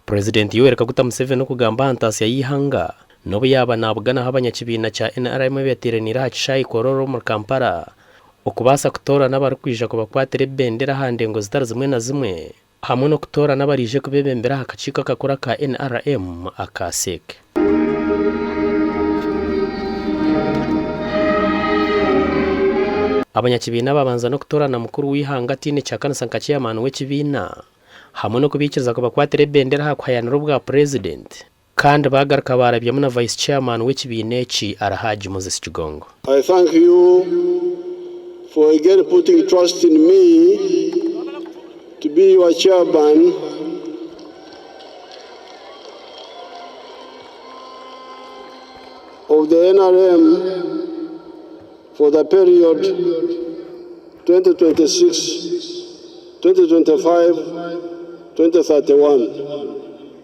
Purezidenti Yoweri Kaguta Museveni okugamba aha ntaasya y'eihanga n'obu yaaba naabugana ahu abanyakibiina kya nrm beeteeraniire aha kishaayi Kololo omuri Kampala okubaasa kutoorana abarikwija kubakwatira ebibendera aha ndengo zitari zimwe na zimwe hamwe n'okutoorana abaraije kubeebembera aha kakiiko akakuru aka nrm aka CEC. Abanyakibiina baabanza n'okutoorana mukuru w'eihanga ataine ky'akanisa nka chairman w'ekibiina, hamwe n'okubaikiriza kubakwatira ebendera aha kuhayaanira obwa purezidenti, kandi baagaruka baarabyamu na vice chairman w'ekibiina eki Alhaj Moses Kigongo. I thank you for again putting trust in me to be your chairman of the NRM for the period 2026-2025-2031.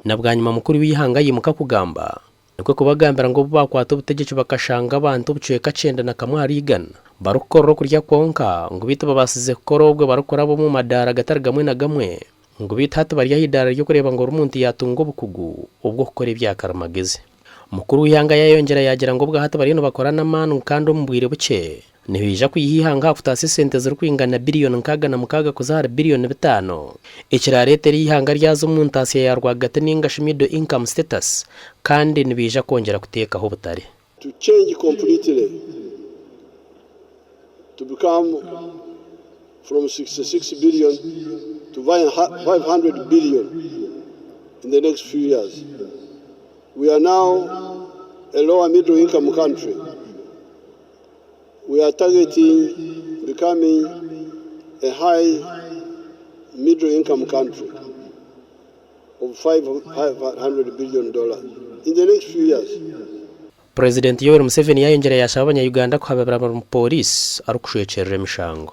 Na bwanyima mukuru w'eihanga aimuka kugamba, Nikwo kubagambira ngu obu baakwata obutegyeki bakashanga abantu obucweka kyenda na kamwe ahari igana barikukorera okurya kwonka, ngu beitu babaasize kukora obwe barikuraba omu madaara agatari gamwe na gamwe, ngu beitu hati bari aha idaara ry'okureeba ngu ori muntu yaatunga obukugu obw'okukora ebya karimagezi. Mukuru w'eihanga yaayongyera yaagira ngu obwahati bariyo nibakora n'amaani ngu kandi omu bwire bukye Nihaija kwiha eihanga aha kutaasa esente zirikwingana biriyoni nkaaga na mukaaga kuza ahari biriyoni bitaano, ekiraareeta eri eihanga ryaza omu ntaatsya ya rwagati nainga shi middle income status, kandi nibaija kwongyera kuteekaho obutare. To change completely to become from sixty six billion to five hundred billion in the next few years. We are now a lower middle income country. We are targeting becoming a high middle income country of 500 billion dollars in the next few years. Purezidenti Yoweri Museveni yaayongyera yaashaba Abanya-Uganda kuhababira mu Pooriisi arikushwekyerera emishango.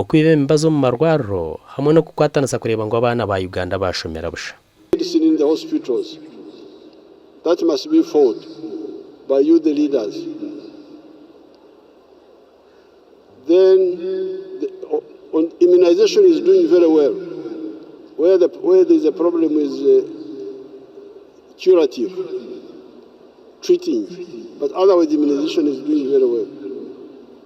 Okwiba emibazi omu marwariro hamwe n'okukwatanisa kureeba ngu abaana ba Uganda bashomera busha. Medicine in the hospitals that must be fought by you the leaders then immunization is doing very well where the where there is a problem is curative treating but otherwise immunization is doing very well.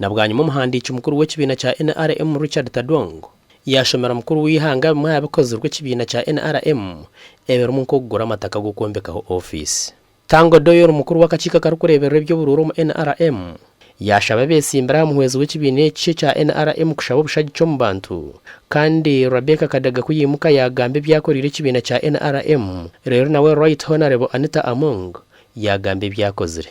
Na bwanyima omuhandiiki mukuru w'ekibiina kya nrm Richard Tadwong yaashomera omukuru w'eihanga bimwe aha bikozirwe ekibiina kya nrm ebirimu nk'okugura amataka g'okwombekaho ofiisi. Tang Odoi ori mukuru w'akakiiko akarikureeberera eby'oburuura omu nrm yaashaba abeetsimbire aha muhwezi w'ekibiina eki ekya nrm kushaba obushagiki omu bantu kandi Rebecca Kadaga ku yaimuka yaagamba ebi akoreire ekibiina kya nrm reero nawe Right Honourable Anita Among yaagamba ebi akozire.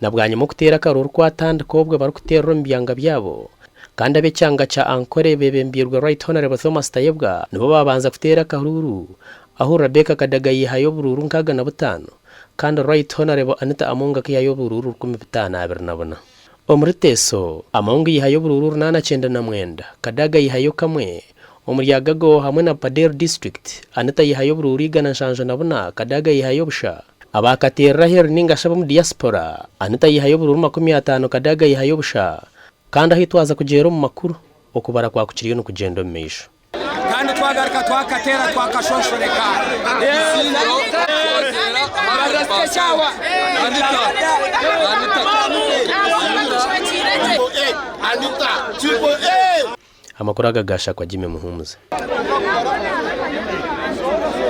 Na bwanyima okuteera akaro orikwatandika obwe barikuteerera omu byanga byabo kandi ab'ekyanga kya Ankole bebembirwe Right Honourable Thomas Tayebwa nibo babanza kuteera akahuuru ahu Rebecca Kadaga yaihayo oburuuru nkaaga na butaano. Kandi Right Honourable Anita Among akihayo oburuuru rukumi bitaano abiri na buna. Omuri Teso, Among yihayo oburuuru runaana kyenda na mwenda, Kadaga yihayo kamwe, omuri Agago hamwe na Bupaderi District, Anita yihayo oburuuru igana nshanju na buna, Kadaga yihayo busha. Abaakateerera aheeru ninga shi ab'omu Diaspora, Anita yihayo oburuuru makumi ataano, Kadaga yihayo busha. Kandi ahu twaza kugyera omu makuru, okubara kwa ku kiriyo nikugyenda omu maisho. Kandi twagaruka twakateera twakashoshoreka ekizingiro kwoteera ahari Paasika. Anita, Anita, Anita. Amakuru aga ga Shakwa Jimmy Muhumuza.